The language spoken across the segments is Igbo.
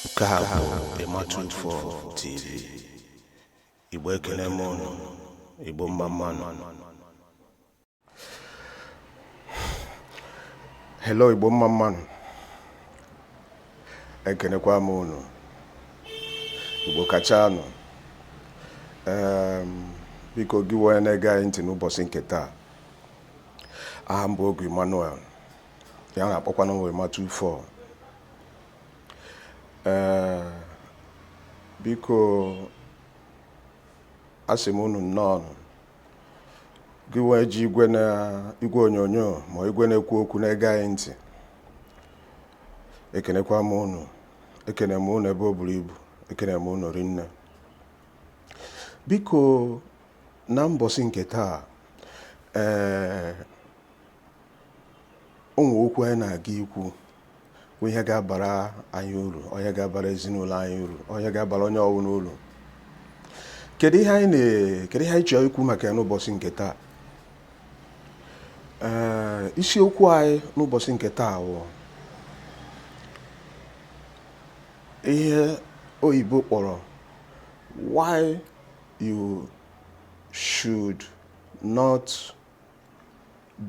nke a bụ emma 24 tv igbo ekele m unu igbo mma mmanụ hello igbo mma mmanụ ekenekwa m unu igbo kachanụ biko gị wee na-ege anyị ntị n'ụbọsị nke taa aha m bụ ogu emmanuel ya na-akpọkwanụ emma 24 ee biko asị m unu nnọọ gị wee ji igwe na igwe onyonyo ma igwe na-ekwu okwu na-ege anyị ntị ekenekwa m unu ekene m unu ebe o buru ibu ekene m unu rinne biko na mbọsị nke taa ee o nwee okwu anyị na-aga ikwu bụ ihe ga-abara anyị uru ihe ga-abara ezinụlọ anyị uru ihe ga-abara onye ọbụla uru kedu ihe anyị kedu ihe anyị chọrọ ikwu maka ya n'ụbọsị nke taa ee isiokwu anyị n'ụbọsị nke taa bụ ihe oyibo kpọrọ why you should not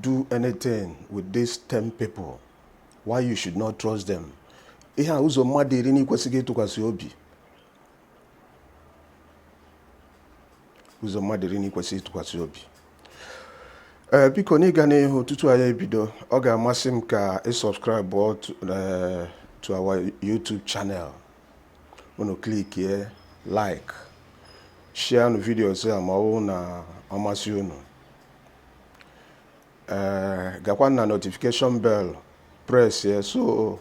do anything with these 10 people why you should not trust them ihe a ụzọ mmadụ iri na i kwesịghị ịtụkwasị obi ụzọ mmadụ iri na i kwesịghị ịtụkwasị obi ee eh, biko n'ịga n'ihu tutu anyị ebido ọ ga-amasị m ka ị subscribe eh, to our YouTube channel unu klikie like share nu videos a ma ọ wụ na ọ masị unu ee eh, gakwa na notification bell press ya so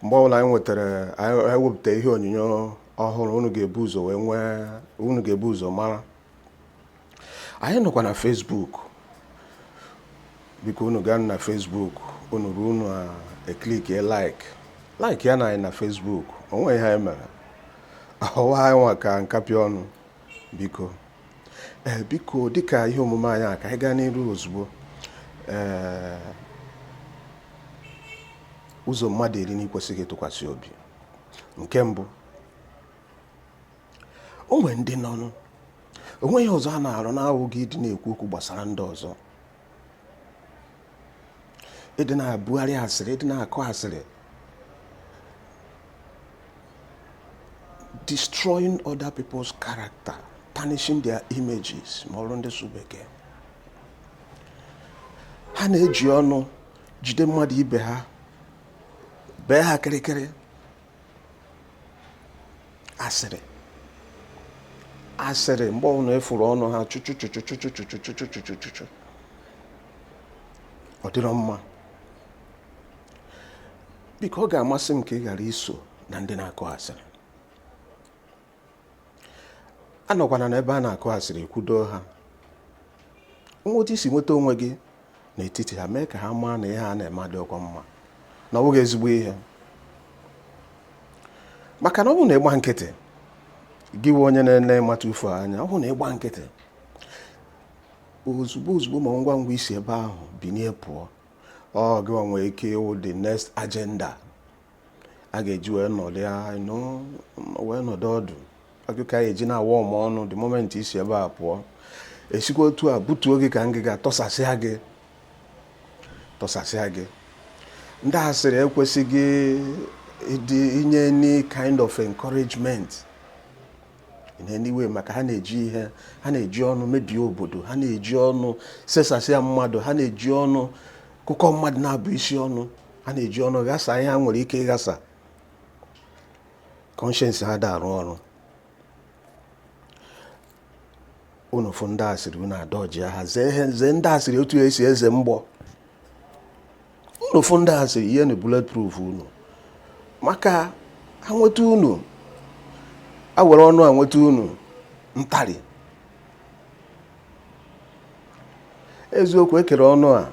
mgbe ọbụla anyị nwetara anyị wepụta ihe onyonyo ọhụrụ unu ga-ebu ụzọ wee nwee unu ga-ebu ụzọ mara anyị nọkwa na Facebook biko unu gaa na Facebook unu ruo unu eklikie like like ya na anyị na Facebook o nwe ihe anyị mere ọwa anyị nwa ka nkapị ọnụ biko ee eh, biko dịka ihe omume anyị a ka anyị gaa n'iru ozugbo ee eh, ụzọ mmadụ iri na i kwesịghị ịtụkwasị obi nke mbụ o nwere ndị nọnụ o nweghị ọzọ ha na-arụ na-awụghị ịdị na-ekwu okwu gbasara ndị ọzọ ịdị na-abugharị asịrị ịdị na-akọ asịrị destroying other people's character tarnishing their images ma ọrụ ndị sụ bekee ha na-eji ọnụ jide mmadụ ibe ha bee ha kịrịkịrị asịrị asịrị mgbe ọbụla ị fụrụ ọnụ ha chụchụchụ ọ dịrọ mma biko ọ ga-amasị m ka ị ghara iso na ndị na-akọ asịrị anọkwana n'ebe a na-akọ asịrị kwudo ha nwee otu i si nweta onwe gị n'etiti ha mee ka ha maa na ihe ha na-eme adịrọkwa mma na ọ bụghị ezigbo ihe maka na ọ bụrụ na ị gba nkịtị gị nwe onye na-ene ịmata ufu anya ọ bụrụ na ị gba nkịtị ozugbo ozugbo ma ngwa ngwa i si ebe ahụ binie pụọ ọ gị nwee ike ịwụ the next agenda a ga-eji wee nọdụ ya wee nọdụ ọdụ ọ gị ka eji na-awa ọma ọnụ the moment i si ebe a pụọ esikwa otu a butuo gị ka ngịga tọsasịa gị tọsasịa gị ndị asịrị ekwesịghị ịdị inye any kind of encouragement in any way maka ha na-eji ihe ha na-eji ọnụ mebie obodo ha na-eji ọnụ sesasịa mmadụ ha na-eji ọnụ kụkọ mmadụ naabọ isi ọnụ ha na-eji ọnụ ghasa ihe ha nwere ike ịghasa conscience ha ada arụ ọrụ unu fụ ndị asịrị unu adọji ha zee ihe zee ndị asịrị otu esi eze mgbọ unu fụ ndị asịrị yienu bulletproof unu maka ha nweta unu ha were ọnụ ha nweta unu ntarị eziokwu ekere ọnụ a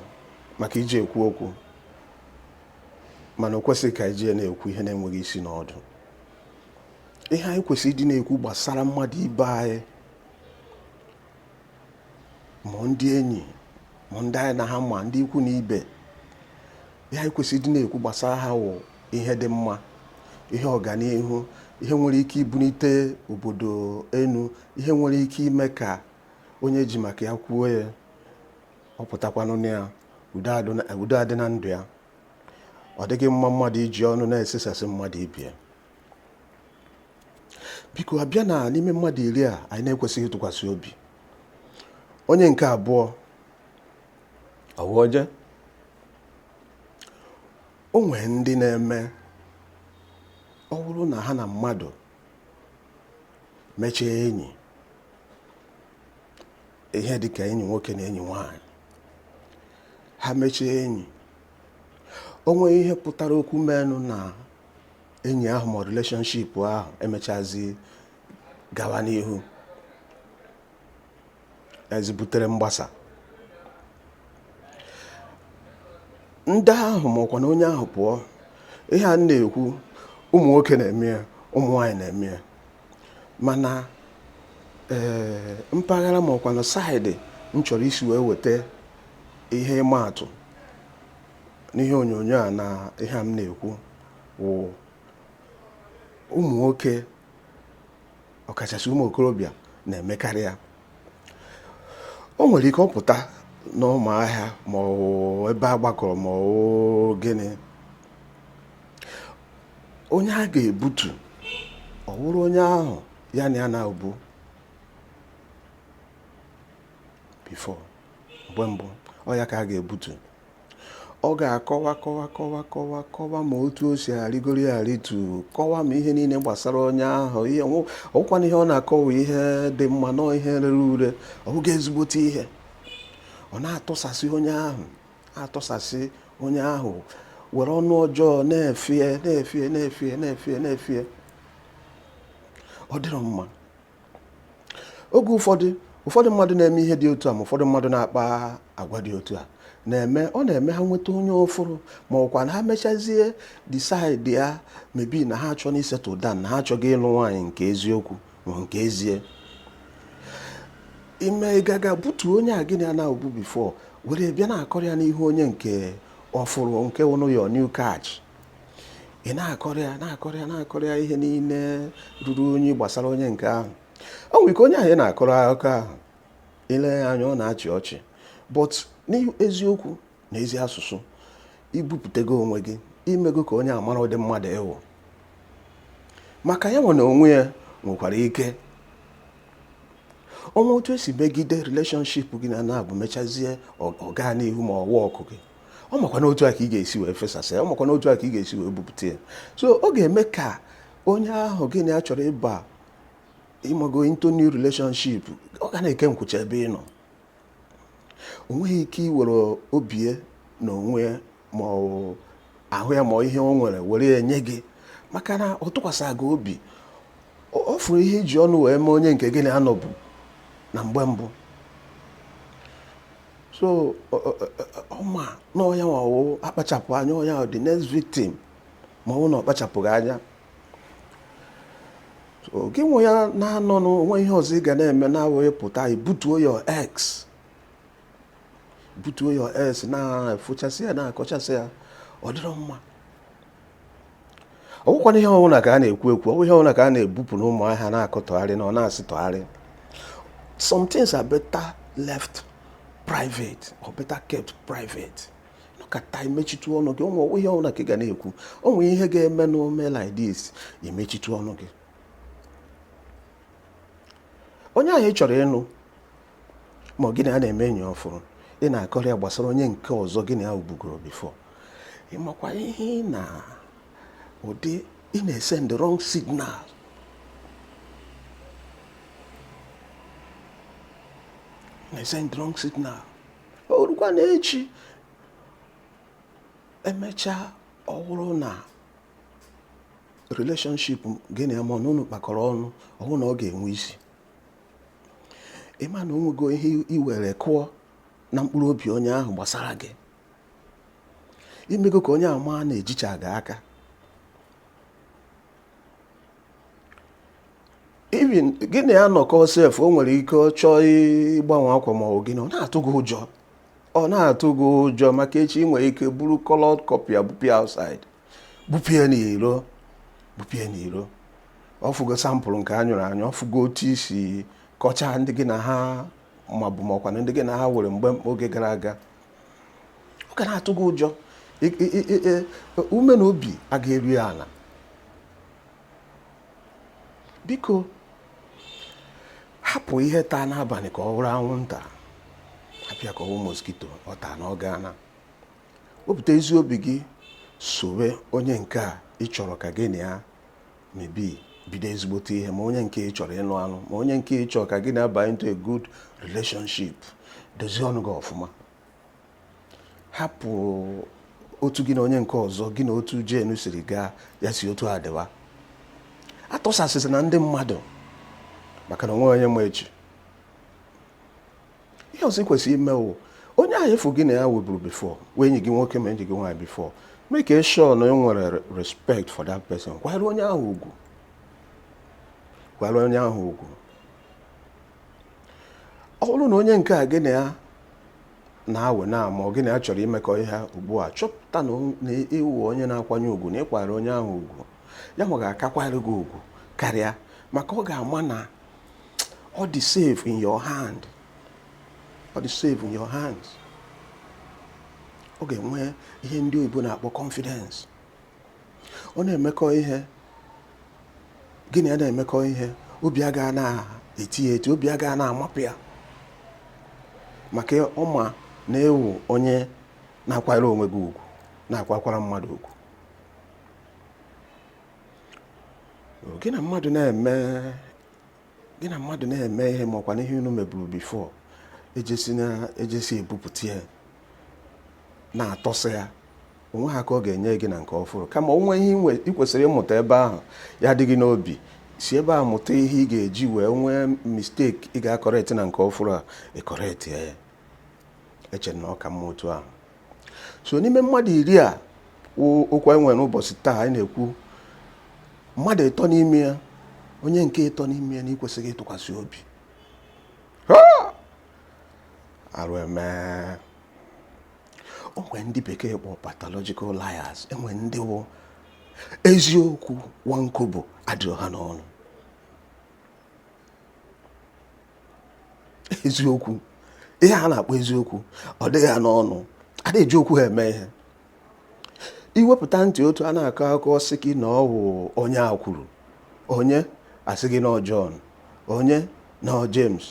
maka iji ekwu okwu mana o kwesịghị ka iji na-ekwu ihe na-enweghị isi na ọdụ ihe anyị kwesịrị ịdị na-ekwu gbasara mmadụ ibe anyị ma ndị enyi ma ndị anyị na ha ma ndị ikwu na ibe ihe anyị kwesịrị ịdị na-ekwu gbasara ha wụ ihe dị mma ihe ọganihu ihe nwere ike ibunite obodo enu ihe nwere ike ime ka onye e ji maka ya kwuo ya ọ pụtakwanụ na ya udo adị na ndụ ya ọ dịghị mma mmadụ iji ọnụ na-esesasị mmadụ ibe ya biko a bịa na n'ime mmadụ iri a anyị na-ekwesịghị ịtụkwasị obi onye nke abụọ ọ wụ oje O nwere ndị na-eme ọ wụrụ na ha na mmadụ mechie enyi ihe dị ka enyi nwoke na enyi nwanyị ha mechie enyi o nwere ihe pụtara okwu menụ na enyi ahụ ma relationship ahụ emechazi gawa n'ihu ezibutere mgbasa ndị ahụ ma ọkwanụ onye ahụ pụọ ihe a m na-ekwu ụmụ nwoke na-eme ya ụmụ nwaanyị na-eme ya mana ee mpaghara ma ọkwanụ side m chọrọ isi wee weta ihe ịma atụ n'ihe onyonyo a na ihe a m na-ekwu wụ ụmụ nwoke ọkachasị ụmụ okorobịa na-emekarị ya o nwere ike ọ pụta n'ọma ahịa ma ọ bụ ebe a gbakọrọ ma ọ bụ gịnị onye a ga-ebutu ọ wụrụ onye ahụ ya na ya nọbu before mgbe mbụ ọ ya ka a ga-ebutu ọ ga-akọwa kọwa kọwa kọwa kọwa ma otu o si arịgoro ya arịtu kọwa ma ihe niile gbasara onye ahụ ihe ọkwana ihe ọ na-akọwa ihe dị mma na ihe rere ure ọ bụghị ezigbote ihe ọ na-atụsasị onye ahụ atụsasị onye ahụ were ọnụ ọjọọ na-efie na-efie na-efie na-efie na-efie ọ dịrọ mma oge ụfọdụ ụfọdụ mmadụ na-eme ihe dị otu a ma ụfọdụ mmadụ na-akpa agwa dị otu a na-eme ọ na-eme ha nweta onye ọfụrụ ma ọkwanụ ha mechazie decide ya maybe na ha achọ na isettle down na ha achọgo ịlụ nwaanyị nke eziokwu ma nke ezie i mee ị ga-aga butu onye ahụ gị na ya nọbu before were bịa na-akọrị ya n'ihu onye nke ọfụrụ nke wụnụ your new catch ị na-akọrọ ya na-akọrọ ya na-akọrọ ya ihe niile ruru unyi gbasara onye nke ahụ o nwere ike onye ahụ ị na-akọrọ akụkọ ahụ i lee ya anya ọ na-achị ọchị but n'eziokwu na ezi asụsụ i bupụtago onwe gị i mego ka onye ahụ mara ụdị mmadụ ị wụ maka ya nwa n'onwe ya nwekwara ike o nwee otu e si megide relationship gị na ya nọbu mechazie ọ gaa n'ihu ma ọwa ọkụ gị ọ makwa na otu a ka ị ga-esi wee fesasị ya ọ makwa na otu a ka ị ga-esi wee bupụta ya so ọ ga-eme ka onye ahụ gị na ya chọrọ ịba ịmago into new relationship ọ ga na-eke nkwụcha ebe ị nọ o nweghị ike iwere obi ya na onwe ya ma ahụ ya ma ihe o nwere were ya nye gị maka na ọ tụkwasịrọ gị obi ọ ọ fụrụ ihe i ji ọnụ wee mee onye nke gị na ya nọbu na mgbe mbụ so ọ ma na ọ ya nwa wụ akpachapụ anya ọ ya the next victim ma ọ wụ na ọ kpachapụghị anya gị nwe ya na-anọ na o nweghị ihe ọzọ ị ga na-eme na-awụghị pụta butuo your ex butuo your ex na-efochasị ya na-akọchasị ya ọ dịrọ mma ọ bụkwanụ ihe ọbụla ka a na-ekwu ekwu ọ bụ ihe ọbụla ka a na-ebupụ n'ọma ahịa na-akọtọgharị na ọ na-asịtọgharị some things are better left private or better kept private nọkata imechitu ọnụ gị ọ wụghị ihe ọbụla ka ị ga na-ekwu o nwere ihe ga-eme na ome like this imechitu ọnụ gị onye ahụ ị chọrọ ịnụ ma gị na ya na-eme enyi ọfụrụ ị na-akọrọ ya gbasara onye nke ọzọ gị na ya wụbugoro before ị makwa ihe ị na ụdị ị na-esend wrong signal na-esend wrong signal o rukwa na echi emechaa ọ wụrụ na relationship gị na ya ma na unu kpakọrọ ọnụ ọ wụrụ na ọ ga-enwe isi ị ma na o nwego ihe i were kụọ na mkpụrụ obi onye ahụ gbasara gị i mego ka onye ahụ maa na-ejicha gị aka even gị na ya nọkọ sef o nwere ike ọ chọọ ịgbanwe akwa ma ọ wụ gịnị ọ na-atụ gị ụjọ ọ na-atụ gị ụjọ maka echi ị nwere ike buru colored copy ya bupụ ya outside bupụ ya n'iro bupụ ya n'iro ọ fụgo sample nke a nyụrụ anyụ ọ fụgo otu i si kọchaa ndị gị na ha mabu ma ọkwanụ ndị gị na ha were mgbe oge gara aga ọ ga na-atụ gị ụjọ ume na obi agaghị eru ya ala biko hapụ ihe taa n'abalị ka ọ wụrụ anwụnta hapụ ya ka ọ wụ moskito ọ taa na ọ gaana wepụta ezi obi gị sowe onye nke a ị chọrọ ka gị na ya mebe bido ezigbote ihe ma onye nke ị chọrọ ịnụ anụ ma onye nke ị chọrọ ka gị na ya baa into a good relationship dozie ọnụ gị ọfụma hapụ otu gị na onye nke ọzọ gị na otu jenu siri gaa ya si otu a dịwa atụsasịsịna ndị mmadụ maka na o nweghị onye ma echi ihe ọzọ ị kwesịrị ime wụ onye ahụ efu gị na ya weburu before wee enyi gị nwoke ma enyi gị nwaanyị before make a sure na ị nwere re- respect for that person kwanyere onye ahụ ugwu kwanyere onye ahụ ugwu ọ bụrụ na onye nke a gị na ya na-awe now ma ọ gị na ya chọrọ imekọ ihe ugbu a chọpụta na o- na ị wụ onye na-akwanye ugwu na ị kwanyere onye ahụ ugwu ya nwa ga-aka akwanyere gị ugwu karịa maka ọ ga-ama na ọ dị safe in your hand ọ dị safe in your hands ọ ga-enwe ihe ndị oyibo na-akpọ confidence ọ na-emekọ ihe gị na ya na-emekọ ihe obi aga na-eti ya eti obi aga na-amapụ ya maka ọ ma na ị wụ onye na-akwanyere onwe gị ugwu na-akwakwara mmadụ ugwu gị na mmadụ na-eme gị na mmadụ na-eme ihe ma ọ kwanụ ihe unu meburu before ejesi ebupụta ya na-atọsị ya o nweghị aka ọ ga-enye gị na nke ọfụrụ kama o nwere ihe ị kwesịrị ịmụta ebe ahụ ya dị gị n'obi si ebe a mụta ihe ị ga-eji wee o nwee mistake ị ga-acorrect na nke ọfụrụ a ị correctie ya eche m na ọ ka mma otu ahụ so n'ime mmadụ iri a okwu anyị nwere n'ụbọchị taa anyị na-ekwu mmadụ ịtọ n'ime ya onye nke ịtọ n'ime ya na ị kwesịghị ịtụkwasị obi arụ eme o nwere ndị bekee kpọ pathological liars e nwere ndị wụ eziokwu one kobo adịrọ ha n'ọnụ eziokwu ihe a na-akpọ eziokwu ọ dịghị ha n'ọnụ ada eji okwu ha eme ihe i wepụta ntị otu a na-akọ akụkọ sị gị na ọ wụ onye a kwuru onye a sị gị na ọ John onye na ọ James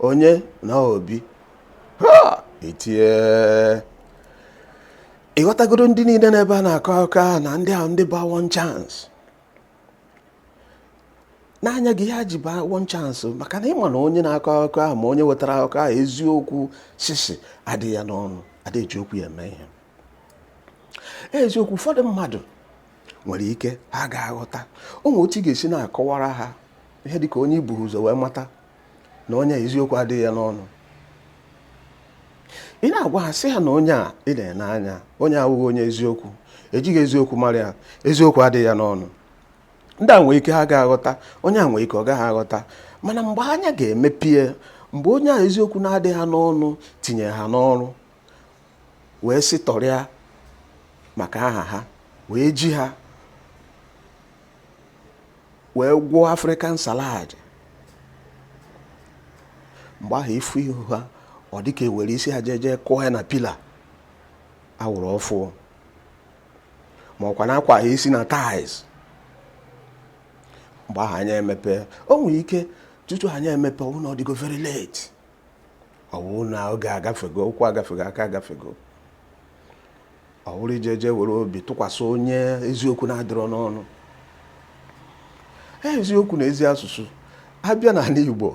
onye na ọ Obi ha etie ị ghọtagoro ndị niile n'ebe a na-akọ akụkọ ahụ na ndị ahụ ndị ba one chance n'anya gị ha ji baa one chance maka na ị ma na onye na-akọ akụkọ ahụ ma onye wetara akụkọ ahụ eziokwu sisi adịghị ya n'ọnụ adịghị eji okwu ya eme ihe eziokwu ụfọdụ mmadụ nwere ike ha ga-aghọta o nwere otu ị ga-esi na-akọwara ha ihe dịka onye i bu ụzọ wee mata na onye a eziokwu adịghị ya n'ọnụ ị na-agwa ha sị ha na onye a ị na-ene anya onye a awụghị onye eziokwu ejighị eziokwu mara ya eziokwu adịghị ya n'ọnụ ndị a nwee ike ha ga-aghọta onye a nwee ike ọ gaghị aghọta mana mgbe anya ga-emepie mgbe onye a eziokwu na-adịghị ha n'ọnụ tinye ha n'ọrụ wee sị tọrịa maka aha ha wee ji ha wee gwọọ african salad mgbe ahụ i fu ihu ha ọ dịka e were isi ha jeje kụọ ya na pillar a wụrụ ọfụụ ma ọ kwanụ a kwaa ha isi na tiles mgbe ahụ anya emepe o nwere ike tutu anya emepe ọ wụ na ọ dịgo very late ọ wụ na oge agafego ụkwụ agafego aka agafego ọ wụrụ i jeje were obi tụkwasị onye eziokwu na-adịrọ n'ọnụ e, eziokwu na ezi asụsụ a bịa n'ala Igbo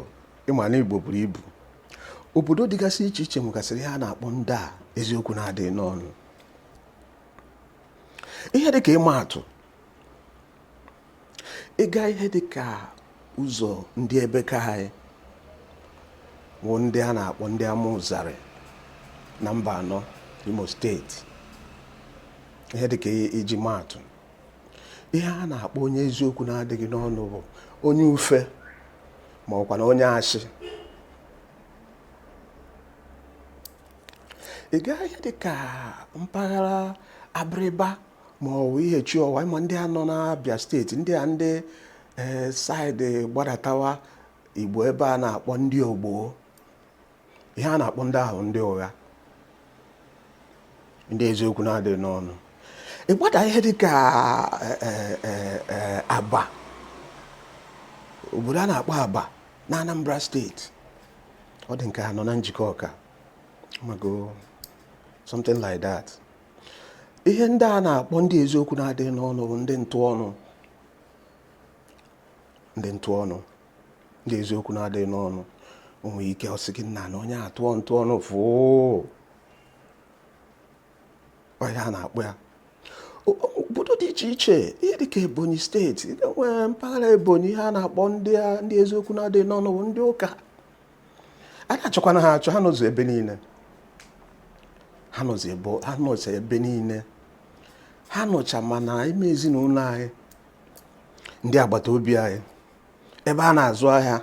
ị ma na Igbo buru ibu obodo dịgasị iche iche nwegasịrị ihe a na-akpọ ndị a eziokwu na-adịghị n'ọnụ ihe dị ka ịma atụ ị gaa ihe dị ka ụzọ ndị ebe ka anyị bụ ndị a na-akpọ ndị amaụzarị na mbaanọ imo steeti ihe dị ka iji maatụ ihe a na-akpọ onye eziokwu na-adịghị n'ọnụ bụ onye ufe ma ọkwa na onye ashị ị gaa ihe dị ka mpaghara abịrịba ma ọ bụ ihechiọwa ma ndị a nọ n'abịa steeti ndị a ndị ee saịdị gbadatawa igbo ebe a na-akpọ ndị ogbo ihe a na-akpọ ndị ahụ ndị ụgha ndị eziokwu na-adịghị n'ọnụ ị gbadaa ihe dị ka e, e, e, abba obodo a na-akpọ abba na anambra steeti ọ dị ka ha nọ na njikọka ma ọ something like that ihe ndị a na-akpọ ndị eziokwu na-adịghị n'ọnụ bụ ndị ntụ ọnụ ndị ntụ ọnụ ndị eziokwu na-adịghị n'ọnụ o nwere ike ọ sị gị nna na onye a tụọ ntụ ọnụ fụụ ọ ihe a na-akpọ ya O- o- obodo dị iche iche ihe dịka ebonyi steeti nwere mpaghara ebonyi ihe a na-akpọ ndị a- ndị eziokwu na-adịghị n'ọnụ bụ ndị ụka ada achọkwana ha achọ ha nọzi ebe niile ha nọzi ebe ha nọcha ebe niile ha nọcha ma n'ime ezinụlọ anyị ndị agbata obi anyị ebe a na-azụ ahịa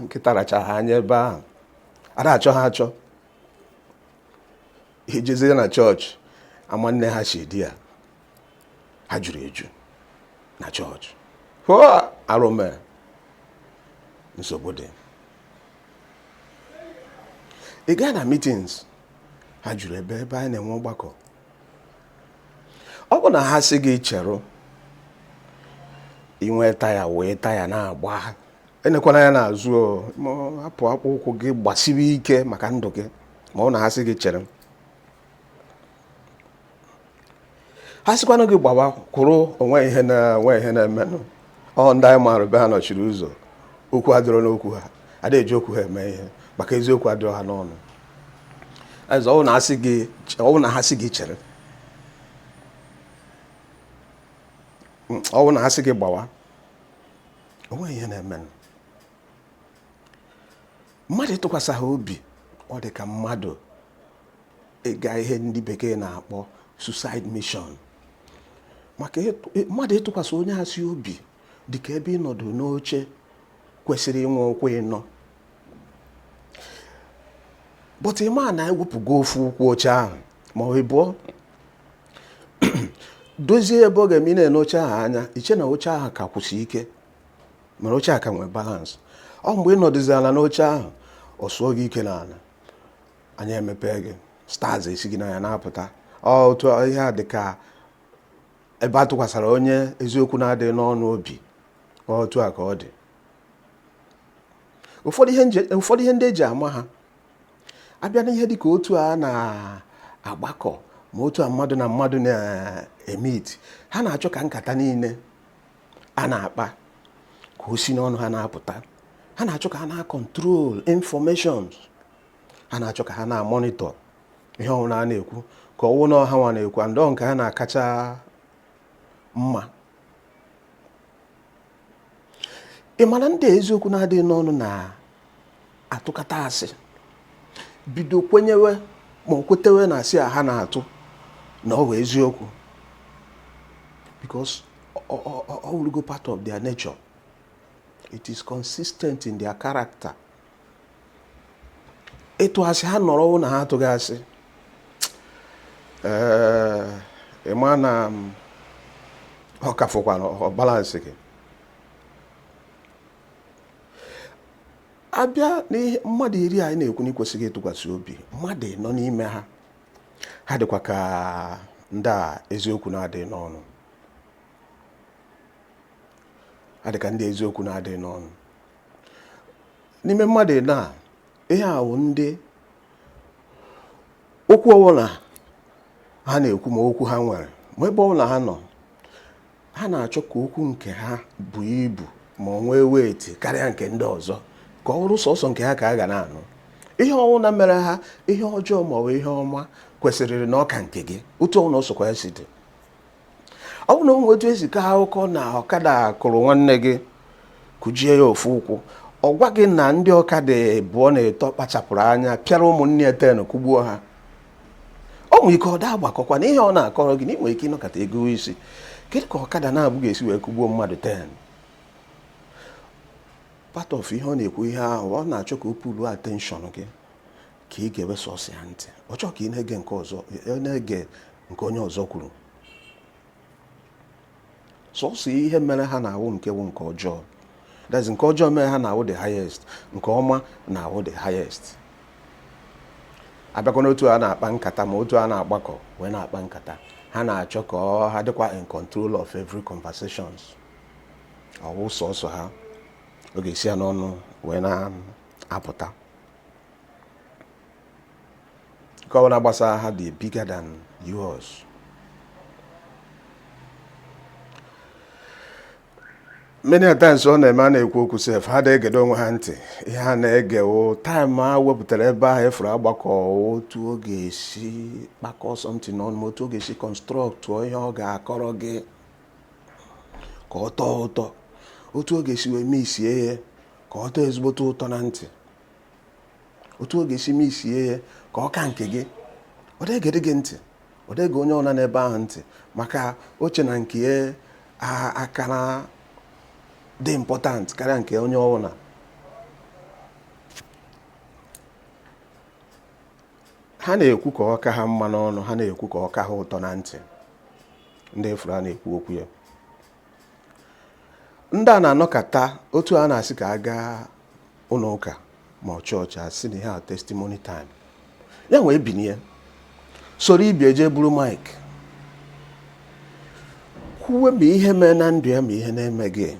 nkịta rachaa ha anya ebe ahụ ada achọ ha achọ i jezie na chọọchị ama nne ha si dị ya ha juru eju na chọọchị arụme nsogbu dị ị gaa na meetings ha juru ebe ebe anyị na-enwe ọgbakọ ọ bụ na ha sị gị cherụ i nwe taya wee taya na-agba enekwana anya n'azụ hapụ akpụ ụkwụ gị gbasiwe ike maka ndụ gị ma ọ bụ na ha sị gị chere ha sịkwanụ gị gbawa kwụrụ o nwe ihe na o nwe ihe na-emenụ ọ ndị anyị maara be ha nọchiri ụzọ okwu adịrọ n'okwu ha ada eji okwu ha eme ihe maka eziokwu adịrọ ha n'ọnụ ee ọ wụ na ha sị gị ọ wụ na ha sị gị chere Mm, ọ wụ na ha sị gị gbawa o nwe ihe na-emenụ mmadụ ịtụkwasị ha obi ọ dị ka mmadụ ịga ihe ndị bekee na-akpọ suicide mission maka mmadụ ịtụkwasị onye asị obi dị ka ebe ịnọdụ n'oche kwesịrị inwe ụkwụ ịnọ but ị ma na e wepụgo ofu ụkwụ oche ahụ ma buo dozie ebe ọ ga-eme ị na-ele oche ahụ anya i chee na oche ahụ ka kwụsị ike ma na oche a ka nwee balance ọ mgbe ị nọdụzi ala n'oche ahụ ọ sụọ gị ike n'ala anya emepee gị stars esi gị n'anya na-apụta ọ otu ihe a dị ka ebe a tụkwasịra onye eziokwu na-adịghị n'ọnụ obi ọ otu a ka ọ dị ụfọdụ ihe ndị e ji ama ha a bịa n'ihe dị ka otu a na-agbakọ ma otu a mmadụ na mmadụ na-emeet ha na-achọ ka nkata niile a na-akpa ka o si n'ọnụ ha na-apụta ha na-achọ ka ha na-acontrol information ha na-achọ ka ha na-amonitor ihe ọwụna a na-ekwu ka ọ wụ na ọ hanwa na-ekwu and ọ nke ha na-akacha mma ị mara ndị eziokwu na-adịghị n'ọnụ na-atụkata asị bido kwenyewe ma o kwetewe na asị a ha na-atụ na ọ bụ eziokwu because ọ wụrụgo part of their nature it is consistent in their character ịtụ asị ha nọrọ na ha atụghị asị ị ma na ọ ka fọkwa ọ balanceghị a bịa n'ihe mmadụ iri anyị na-ekwu na i kwesịghị ịtụkwasị obi mmadụ ịnọ n'ime ha ha dịkwa ka ndị a eziokwu na-adịghị n'ọnụ ha dịka ndị eziokwu na-adịghị n'ọnụ n'ime mmadụ ịnọ a ihe ahụ ndị okwu ọbụla ha na-ekwu ma okwu ha nwere ma ebe ọbụla ha nọ ha na-achọ ka okwu nke ha buo ibu ma ọ nwee weight karịa nke ndị ọzọ ka ọ wụrụ sọsọ nke ha ka a ga na-anụ ihe ọwụna mere ha ihe ọjọọ ma ọ bụ ihe ọma kwesịrịrị na ọ ka nke gị otu ọwụna ọ sọkwa ya si dị ọ bụrụ na o nwee otu e si kaa akụkọ na ọkada kụrụ nwanne gị kụjie ya ofu ụkwụ ọ gwa gị na ndị ọkada abụọ na atọ kpachapụrụ anya pịara ụmụnne ya ten kụgbuo ha ọ nwere ike ọ da agbakọkwa na ihe ọ na-akọrọ gị na ị nwere ike ịnọkọta ego isi kedu ka ọkada naabọ ga-esi wee kụgbuo mmadụ ten part of ihe ọ na-ekwu ihe ahụ ọ na-achọ ka o pull attention gị ka i gewe sọsọ ya ntị ọ chọọ ka ị na-ege nke ọzọ ọ na-ege nke onye ọzọ kwuru sọsọ ihe mere ha na-awụ nke wụ nke ọjọọ that's nke ọjọọ mere ha na-awụ the highest nke ọma na-awụ the highest abịakwa n'otu a na-akpa nkata ma otu a na-agbakọ wee na-akpa nkata ha na-achọ ka ha dịkwa in control of every conversations ọ wụ sọsọ ha ọ ga-esi ha n'ọnụ wee na-apụta nke ọbụla gbasara ha dị bigger than yours many a times ọ na-eme a na-ekwu okwu sef ha adị egedo onwe ha ntị ihe ha na-egewo time a wepụtara ebe ahụ efuru agbakọ otu ọ ga-esi kpakọ something n'ọnụ ma otu ọ ga-esi kọnstrọktụọ ihe ọ ga-akọrọ gị ka ọ tọọ ụtọ otu ọ ga-esi wee meesie ya ka ọ tọọ ezigbote ụtọ na ntị otu ọ ga-esi meesie ya ka ọ ka nke gị ọ dị egedị gị ntị ọ dị ege onye ọbụna nọ ebe ahụ ntị maka o che na nke ya kara dị important karịa nke onye ọbụla ha na-ekwu ka ọ ka ha mma n'ọnụ ha na-ekwu ka ọ ka ha ụtọ na ntị ndị efuru a na-ekwu okwu ya ndị a na-anọkata otu a na-asị ka a gaa ụlọ ụka ma ọ chọọchị asị na ihe a testimony time ya wee binie soro ibe ya je buru mic kwuwe ma ihe mee na ndụ ya ma ihe na-emeghị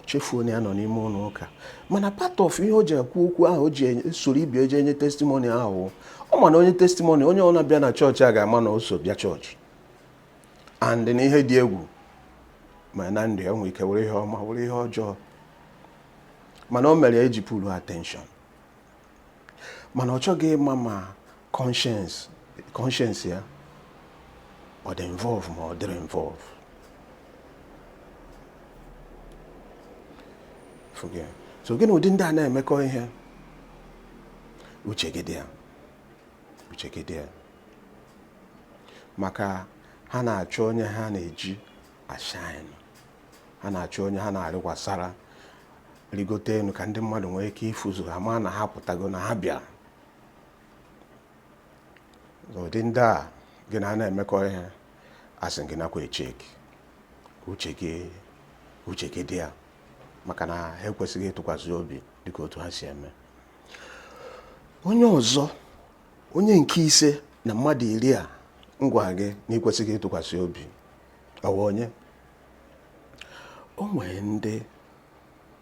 chefuo na ya nọ n'ime ụlọ ụka mana part of ihe o ji ekwu okwu ahụ o ji soro ibe ya je enye testimony ahụ ọ ma na o nye testimony onye ọbụna bịa na chọọchị ga-ama na o so bịa chọọchị and na ihe dị egwu mee na ndụ ya nwere ike wụrụ ihe ọma wụrụ ihe ọjọọ mana o mere ya eji pụrụ attention mana ọ chọghị ịma ma conscience ya ọ dị involve ma ọ dịghị involve so gị na ụdị ndị a na-emekọ ihe uche gị dị ya uche gị dị ya maka ha na-achọ onye ha na-eji ashine ha na-achọ onye ha na-arịkwasara rigote enu ka ndị mmadụ nwee ike ịfụzu ha ma na ha pụtago na ha bịara ụdị ndị a gị na ha na-emekọ ihe asị m gị nakwa echeki uche gị dị ya maka na ha ekwesịghị ịtụkwasị obi dịka otu ha si eme onye ọzọ onye nke ise na mmadụ iri a m gwara gị na ị kwesịghị ịtụkwasị obi ọ wụ onye o nwere ndị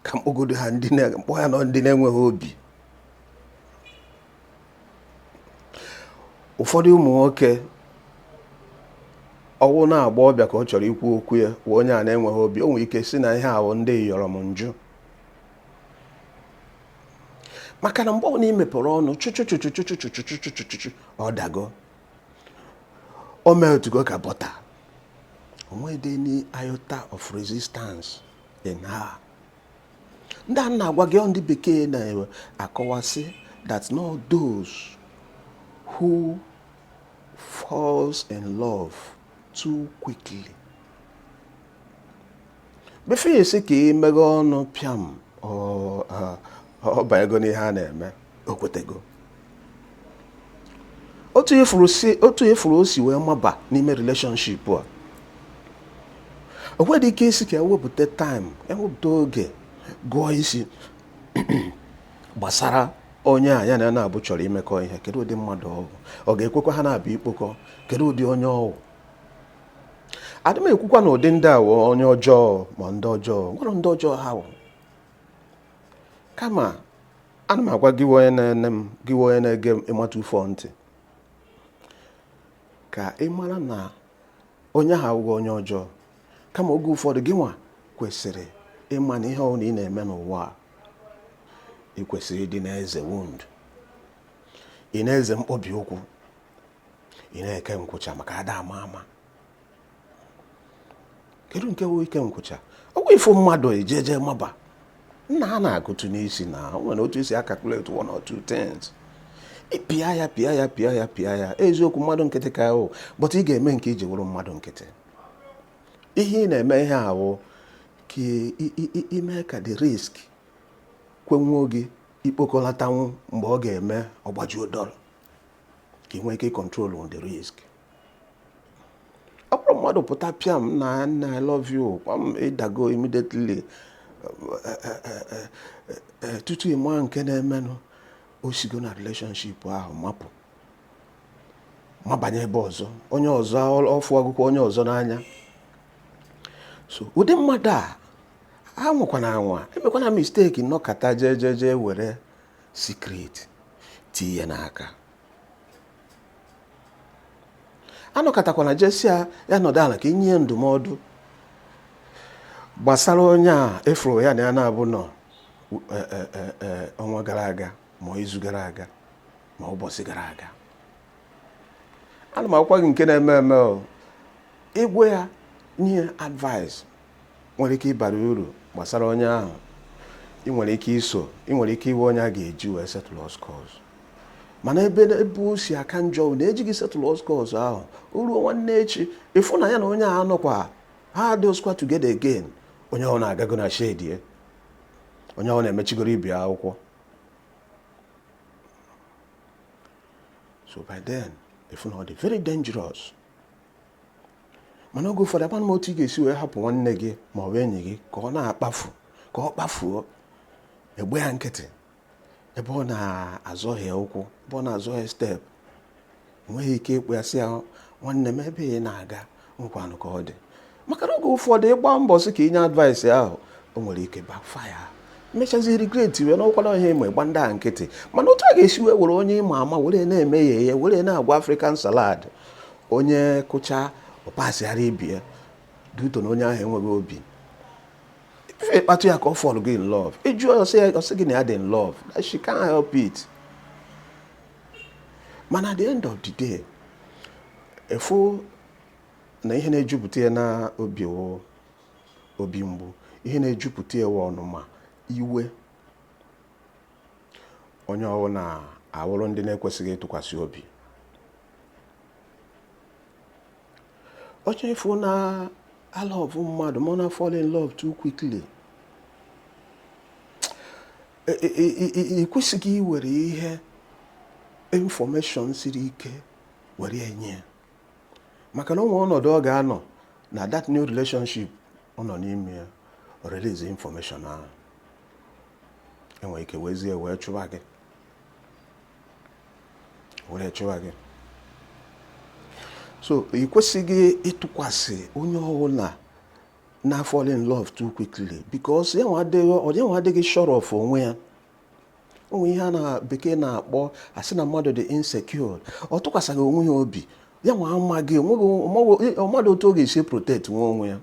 ka m kpọgodo ha ndị na- m kpọọ ya nnọọ ndị na-enweghị obi ụfọdụ ụmụ nwoke ọ wụ na agbọghọbịa ka ọ chọrọ ikwu okwu ya wee onye a na-enweghị obi o nwere ike sị na ihe ahụ ndị yọrọ m njụ maka na mgbe ọbụla i mepere ọnụ chụchụchụ ọ dago o meltugo ka bọta o nwedị any iota of resistance in her ndị a m na-agwa gị ndị bekee na-akọwa sị that na ọ those who falls in love too quickly before ị sị ka ị meghee ọnụ pịam ọ- ọ- ọ banyego n'ihe a na-eme o kwetego otu ị fụrụ si otu ị fụrụ o si wee maba n'ime relationship a o nweghị ike ịsị ka e wepụta time e wepụta oge gụọ isi gbasara onye a ya na ya n'abụọ chọrọ imekọ ihe kedu ụdị mmadụ ọ bụ ọ ga-ekwekwa ha n'abụọ ikpokọ kedu ụdị onye ọ wụ adị m ekwukwa na ụdị ndị a wụ onye ọjọọ ma ndị ọjọọ o nweghị ndị ọjọọ ha wụ kama ana m agwa gị wụ onye na-ene m gị wụ onye na-ege m ịmata ufọ ntị ka ị mara na onye ahụ awụghị onye ọjọọ kama oge ụfọdụ gị nwa kwesịrị ịma na ihe ọbụla ị na-eme n'ụwa a, ị kwesịrị ịdị na-eze wound ị na-eze mkpọbi ụkwụ ị na-eke nkwụcha maka ada ama ama kedu nke wụ ike nkwụcha ọ wụghị ịfụ mmadụ i jeje maba nna a na-agụtụ n'isi na o nwere otu e si a-calculate one or two things pịa ya pịa ya pịa ya pịa ya eziokwu mmadụ nkịtị ka a wụ but ị ga-eme nke i ji wụrụ mmadụ nkịtị ihe ị na-eme ihe ahụ ka i mee ka the risk kwenwuo gị ikpokọlatanwu mgbe ọ ga-eme ọ gbajuo dọrọ ka ị nwee ike control the risk ọ bụrụ mmadụ pụta pịam na nna I love you kwam ị dago immediately tutu ị maa nke na-emenụ o sigo na relationship ahụ mapụ mabanye ebe ọzọ onye ọzọ ọ fụ ọ fụkwa onye ọzọ n'anya so ụdị mmadụ a anwakwana anwa emekwana mistake nọkata jee jee jee were secret tii ya n'aka anọkatakwana je sị ya ya nọdụ ala ka i nye ya ndụmọdụ gbasara onye a ị fụrụ ya na ya na-abụ nọ e, e, e, ọnwa gara aga ma izu gara aga ma ụbọchị gara aga ana m agwakwa gị nke na-eme eme ị gwa ya nye ya advice nwere ike ịbara uru gbasara onye ahụ ị nwere ike iso ị nwere ike ịwụ onye a ga-eji wee settle scores mana ebe o si aka njọ na e ji gị settle scores ahụ o ruo nwanne echi ị fụ na ya na onye ahụ nọkwa ha adịghịkwa together again onye ahụ na-agago na shedie onye ahụ na-emechigoro ibe akwụkwọ so by then ị fụ na ọ dị very dangerous mana oge ụfọdụ gwanụ m otu ị ga-esi wee hapụ nwanne gị ma ọ bụ enyi gị ka ọ na-akpafu ka ọ kpafuo ị gba ya nkịtị ebe ọ na-azọhie ụkwụ ebe ọ na-azọhie step ị nweghị ike ịkpọ ya sị ya nwanne m ebe ị na-aga nekwanụ ka ọ dị maka na oge ụfọdụ ị gbaa mbọ sị ka i nye advice ahụ o nwere ike backfire mechazi regret wee n'ọkwala ihe ma ị gba ndị a nkịtị mana otu a ga-esi wee were onye ị ma ama were na-eme ya ihe were na-agwọ african salad onye kụchaa ọ pasịara ibe ya due to na onye ahụ enweghị obi ife ị kpatụ ya aka ọ fall gị in love ị jụọ ọ sị gị na ya dị in love that she can't help it mana at the end of the day ị fụ na ihe na-ejupụta ya n'obi wụ obi mgbu ihe na-ejupụta ya wụ ọnụma iwe onye ọ wụ na-awụrụ ndị na-ekwesịghị ịtụkwasị obi onye ị fụ na-alọvụ mmadụ ma na fall in love too quickly ị kwesịghị iwere ihe information siri ike were nye ya maka na o nwe ọnọdụ ọ ga-anọ na that new relationship ọ nọ n'ime ya release information ahụ e nwere ike wezie wee chụwa gị were chụwa gị so ị kwesịghị ịtụkwasị onye ọbụla na fall in love too quickly because ya nwa adịghị sure of onwe ya o nwe ihe a na bekee na-akpọ a sị na mmadụ dị insecure ọ tụkwasịghị onwe ya obi ya nwa amaghị ọ maghị otu ọ ga-esi protect nwa onwe ya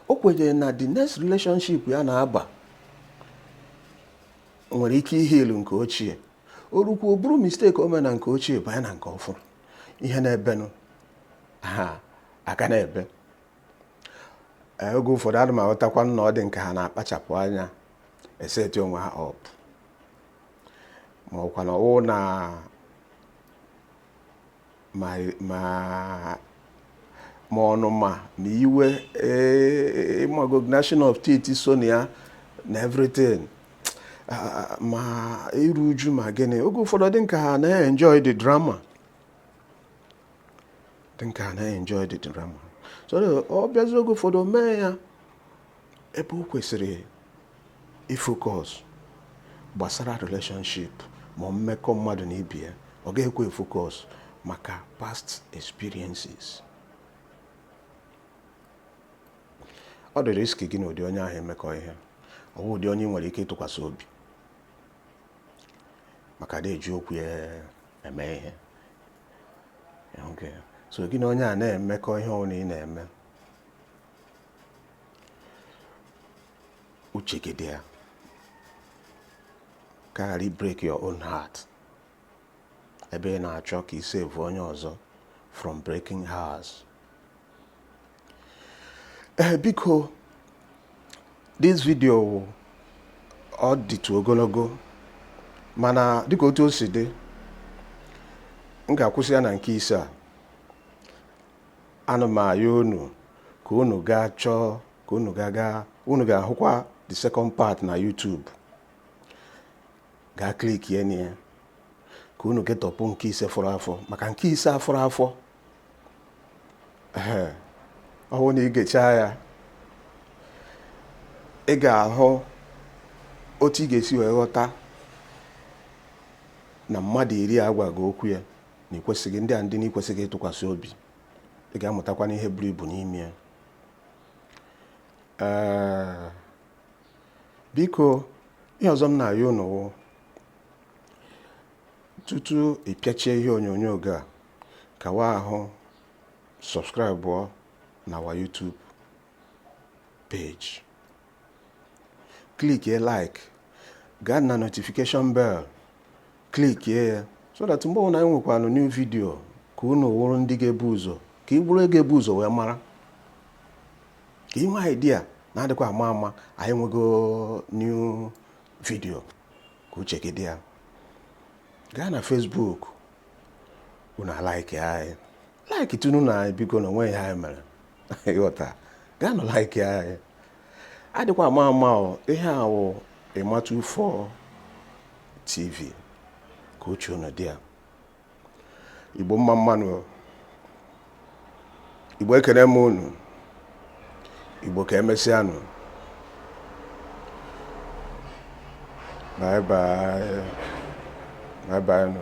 o kwenyere na the next relationship ya na-aba nwere ike ihe ilu nke ochie o rukwu o buru mistake o mere na nke ochie banye na nke ọfụrụ ihe na-ebenụ ha aka na-ebe Ee, oge ụfọdụ adị m aghọtakwa na ọ dị nke ha na-akpachapụ anya eseti onwe ha up ma ọkwa na ọwụ na ma ọnụma ma iwe eh, ma gnashing of teeth so na ya na everything ah, ma iru uju ma gịnị oge ụfọdụ dị nka ha na-enjoy the drama dị nka ha na-enjoy the drama so ọ bịazi oge ụfọdụ mee ya ebe o kwesịrị ifocus gbasara relationship ma mmekọ mmadụ na ibe ya ọ ga-ekwe efocus maka past experiences ọ dị risky gị na ụdị onye ahụ emekọ ihe ọ bụ ụdị onye e nwere ike ịtụkwasị obi maka adị eji okwu ya eme ihe so gị na onye a na-emekọ ihe ọbụla ị na-eme uche gị dị ya ka ị ghara break your own heart ebe ị na-achọ ka ị save onye ọzọ from breaking hearts ee eh, biko this video ọ dịtụ ogologo mana dịka otu o si dị m ga-akwụsị ya na nke ise a ana m ayọ unu ka unu gaa chọọ ka unu gaa gaa unu ga-ahụkwa the second part na YouTube gaa klikie na ya ka unu getọpụ nke ise fọrọ afọ maka nke ise a fọrọ afọ ehe ọ bụrụ na ị gechaa ya ị ga-ahụ otu ị ga-esi wee ghọta na mmadụ iri a a gwa gị okwu ya na ikwesịghị ndị a ndị na ikwesịghị ịtụkwasị obi ị ga-amụtakwanụ ihe buru ibu n'ime ya ee biko ihe ọzọ m na-ayọ unu wụ tutu ị pịachie ihe onyonyo gị a kawa ahụ sọbskraịbụọ na our YouTube page klikie like gaa na notification bell klikie ya so that mgbe ọbụla anyị nwekwanụ new video ka unu wụrụ ndị ga-ebu ụzọ ka ị bụrụ onye ga-ebu ụzọ wee mara ka i nwee idea na adịkwa ama ama anyị nwego new video ka uche gị dị ya gaa na Facebook unu alaiki anyị like tunu na anyị biko na o nweghị ihe anyị mere ị ghọta gaa nụ like anyị adịkwa ama ama ihe a wụ ịmatu 4 tv ka uche unu dị ya igbo mma mma nụ igbo ekene m unu igbo ka emesịanụ bye bye bye bye nụ